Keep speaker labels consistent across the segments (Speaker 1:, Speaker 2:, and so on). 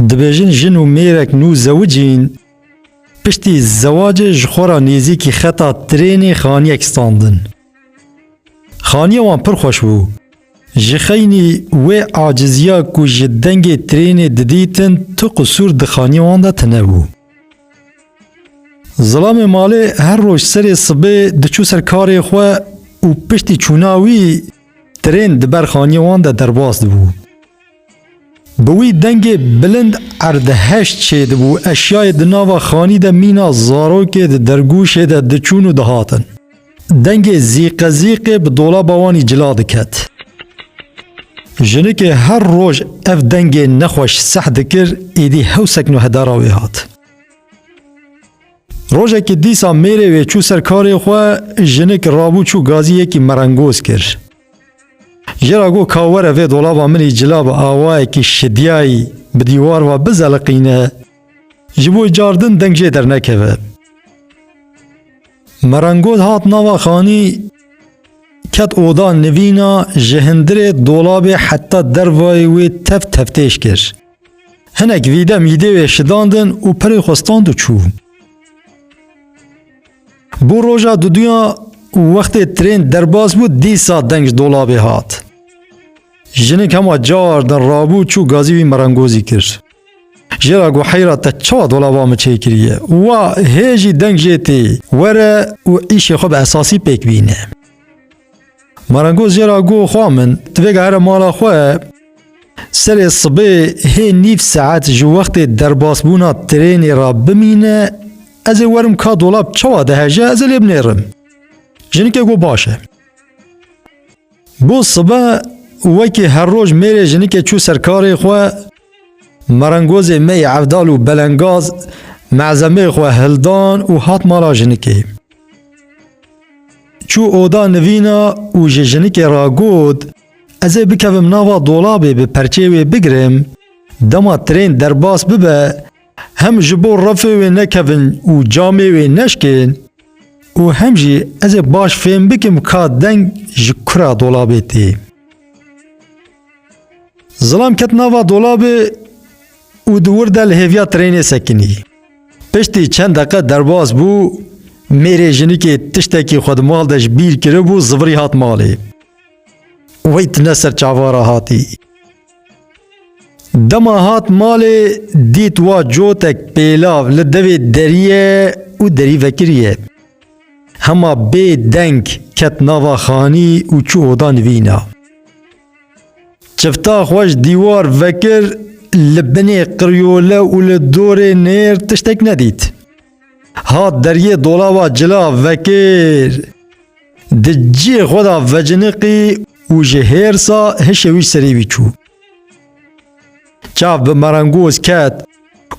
Speaker 1: Dibêjin jin û mêrek nû zewicîn, piştî zewacê ji xwe re nêzîkî xeta trênê xaniyek standin. Xaniya wan pir xweş bû. Ji xeynî wê aciziya ku ji dengê trênê didîtin tu qisûr di xaniya wan de tune bû. Zilamê malê her roj serê sibê diçû ser karê xwe û piştî çûna wî, Tirên di ber xaniyê wan de derbas dibû. Bi wî dengê bilind erdeheş çêdibû, eşyayê di nava xanî de mîna zarokê di dergûşê de diçûn û dihatin. Dengê zîqezîqê bi dolaba wanî cila diket. Jinikê her roj ev dengê nexweş seh dikir, êdî hewsek nuhedara wê hat. Rojekî dîsa mêrê wê çû ser karê xwe, jinik rabû çû gazî yekî merengoz kir. Ji ra got ka were vê dolaba min î cila bi awayekî şidyayî bi dîwar ve bizeliqîne, ji bo car din deng jê dernekeve. Merengoz hat nava xanî, ket oda nivîna ji hindirê dolabê heta dervayê wê tev tevtêj kir. Hinek vîde mîdê wê şidandin û pirê xwe stand û çû. Bû roja duduya û wextê trên derbas bû dîsa deng ji dolabê hat. Jinik hema car din rabû çû gazî wî merengozî kir. Jê ra got heyra te çawa dolaba min çê kiriye? Wa hê jî deng jê tê. Were û îşê xwe bi esasî pêk bîne. Marangoz jê ra got xwa min tu vêga here mala xwe serê sibê hê nîv saet ji wextê derbasbûna trênê ra bimîne ez ê werim ka dolab çawa diheje ez ê lê binêrim. Jinikê got baş e. Got sibe wekî her roj mêrê jinikê çû ser karê xwe merengozê me yê evdal û belengaz mezemê xwe hildan û hat mala jinikê. Çû oda nivîna û ji jinikê re got, Ez ê bikevim nava dolabê bi perçê wê bigirim, dema trên derbas bibe hem ji bo refê wê nekevin û camê wê neşkên û hem jî ez ê baş fêm bikim ka deng ji kura dolabê tê. Zilam ket nava dolabê û di wir de li hêviya trênê sekinî. Piştî çend deqe derbas bû, mêrê jinikê tiştekî xwe di mal de ji bîr kiribû, zivirî hat malê. Wey tune ser çava re hatî. Dema hat malê dît wa cotek pêlav li devê deriye û derî vekiriye. Hema bê deng ket nava xanî û çû oda nivîna. Çifta xwe ji dîwar vekir, li binê qiryole û li dorê nêr tiştek nedît. Hat deriyê dolaba cila vekir. Di ciyê xwe de veciniqî û ji hêrsa hişê wî serê wî çû. Çav bi merengoz ket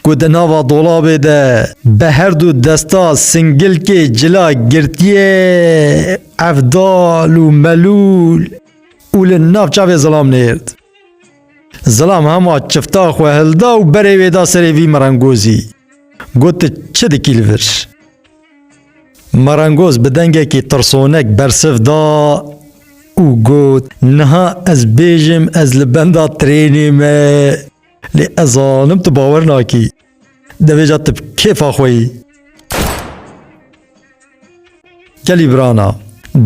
Speaker 1: ku di nava dolabê de bi herdu desta singilkê cila girtiye, evdal û melûl. û li nav çavê zilam nêrd. Zilam hema çifta xwe hilda û berê wê da serê vî merengozî. Got tu çi dikî li vir? Merengoz bi dengekî tirsonek bersiv da û got niha ez bêjim ez li benda trênê me lê ez zanim tu bawer nakî. Devêca tu bi kêfa xwe yî. Kelî birana.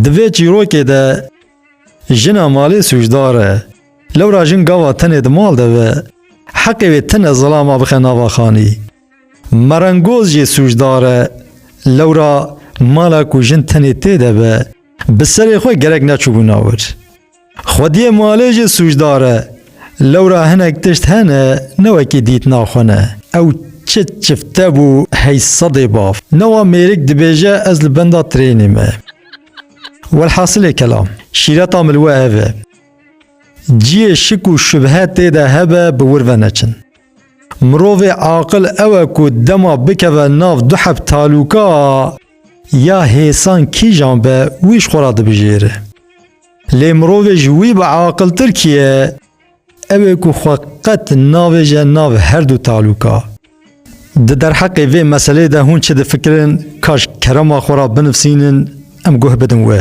Speaker 1: Di vê çîrokê de jina malê sûcdar e. Lewra jin gava tenê di mal de be. Heqê wê tine zilama bixe nava xanî. Merengoz jê sûcdar e. Lewra mala ku jin tenê tê de be, bi serê xwe gerek neçûbûna wir. Xwediyê malê jî sûcdar e. Lewra hinek tişt hene ne wekî dîtina xwe ne. Ew çi çifte bû hey sedê baf. Newa mêrik dibêje ez li benda trênê me. Welhasilê kelam, şîreta min li we ev e. Ciyê şik û şubhe tê de hebe bi wir ve neçin. Mirovê aqil ew e ku dema bikeve nav du heb talûka ya hêsan kîjan be wî ji xwe re dibijêre. Lê mirovê ji wî bi aqiltir kî ye? Ew ê ku xwe qet navêje nav her du talûka. Di derheqê vê meselê de hûn çi difikirin kaş kerema xwe re binivsînin em guh bidin we.